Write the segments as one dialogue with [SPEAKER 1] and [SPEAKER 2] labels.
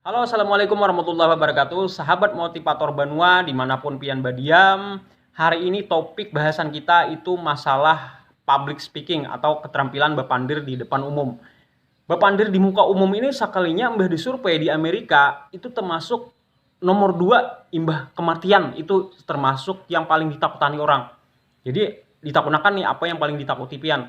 [SPEAKER 1] Halo, Assalamualaikum warahmatullahi wabarakatuh. Sahabat motivator Banua, dimanapun pian badiam, hari ini topik bahasan kita itu masalah public speaking atau keterampilan bapandir di depan umum. Bapandir di muka umum ini sakalinya imbah disurvei di Amerika itu termasuk nomor dua imbah kematian itu termasuk yang paling ditakutani orang. Jadi ditakunakan nih apa yang paling ditakuti pian.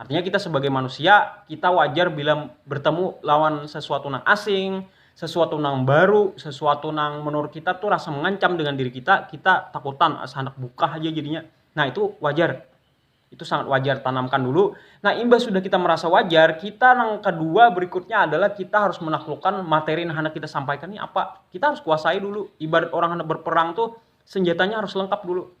[SPEAKER 1] Artinya kita sebagai manusia, kita wajar bila bertemu lawan sesuatu nang asing, sesuatu nang baru, sesuatu nang menurut kita tu rasa mengancam dengan diri kita, kita takutan asa handak buka haja jadinya. Nah, itu wajar. Itu sangat wajar, tanamkan dulu. Nah, imbah sudah kita merasa wajar, kita nang kedua berikutnya adalah kita harus menaklukkan materi nang handak kita sampaikan ni apa. Kita harus kuasai dulu. Ibarat orang handak berperang tu senjatanya harus lengkap dulu.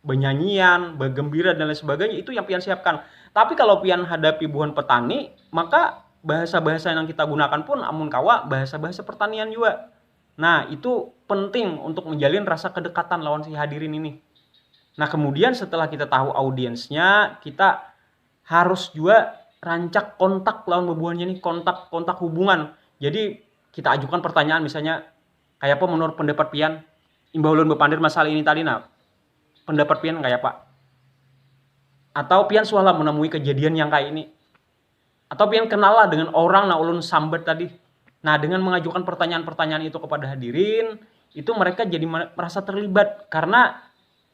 [SPEAKER 1] benyanyian, begembira dan lain sebagainya itu yang pian siapkan. Tapi kalau pian hadapi buhan petani, maka bahasa-bahasa yang kita gunakan pun amun kawa bahasa-bahasa pertanian jua. Nah, itu penting untuk menjalin rasa kedekatan lawan si hadirin ini. Nah, kemudian setelah kita tahu audiensnya, kita harus juga rancak kontak lawan bebuhannya nih, kontak kontak hubungan. Jadi kita ajukan pertanyaan misalnya Kayapa menurut pendapat pian? Imbah ulun bepander masalah ini tadi nah, pendapat pian kayapa? Atau pian suah lah menamui kejadian yang kaya ini? Atau pian kenal lah dengan orang nang ulun sambat tadi? Nah, dengan mengajukan pertanyaan-pertanyaan itu kepada hadirin, itu mereka jadi merasa terlibat karena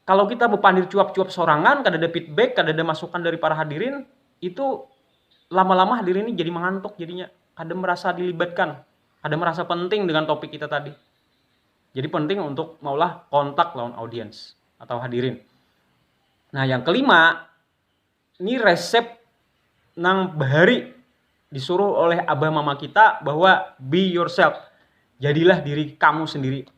[SPEAKER 1] kalau kita bepandir cuap-cuap sorangan kada ada feedback kada ada masukan dari para hadirin itu lama-lama hadirin ini jadi mengantuk jadinya kada merasa dilibatkan kada merasa penting dengan topik kita tadi. Jadi penting untuk maulah kontak lawan audiens atau hadirin. Nah, yang kelima, ini resep nang bahari disuruh oleh abah mama kita bahwa be yourself. Jadilah diri kamu sendiri.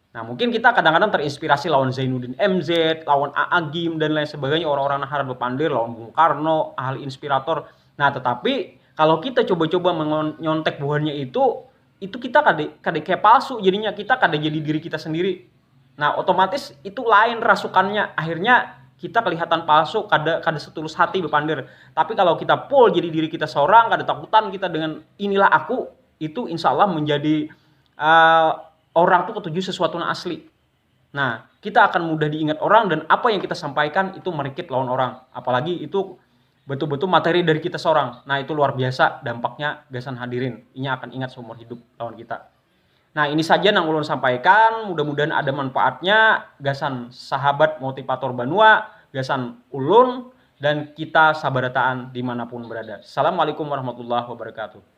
[SPEAKER 1] Nah, mungkin kita kadang-kadang terinspirasi lawan Zainuddin MZ, lawan AA Gim, dan lain sebagainya, orang-orang yang harat bepandir, lawan Bung Karno, ahli inspirator. Nah, tetapi kalau kita coba-coba menyontek buhannya itu, itu kita kada, kada kayak palsu jadinya, kita kada jadi diri kita sendiri. Nah, otomatis itu lain rasukannya, akhirnya kita kelihatan palsu, kada kada setulus hati bepandir. Tapi kalau kita full jadi diri kita seorang, kada takutan kita dengan inilah aku, itu insya Allah menjadi uh, orang tuh ketuju sesuatu yang asli. Nah, kita akan mudah diingat orang dan apa yang kita sampaikan itu merikit lawan orang. Apalagi itu betul-betul materi dari kita seorang. Nah, itu luar biasa dampaknya gasan hadirin. Inya akan ingat seumur hidup lawan kita. Nah, ini saja yang ulun sampaikan. Mudah-mudahan ada manfaatnya gasan sahabat motivator Banua, gasan ulun, dan kita sabarataan dimanapun berada. Assalamualaikum warahmatullahi wabarakatuh.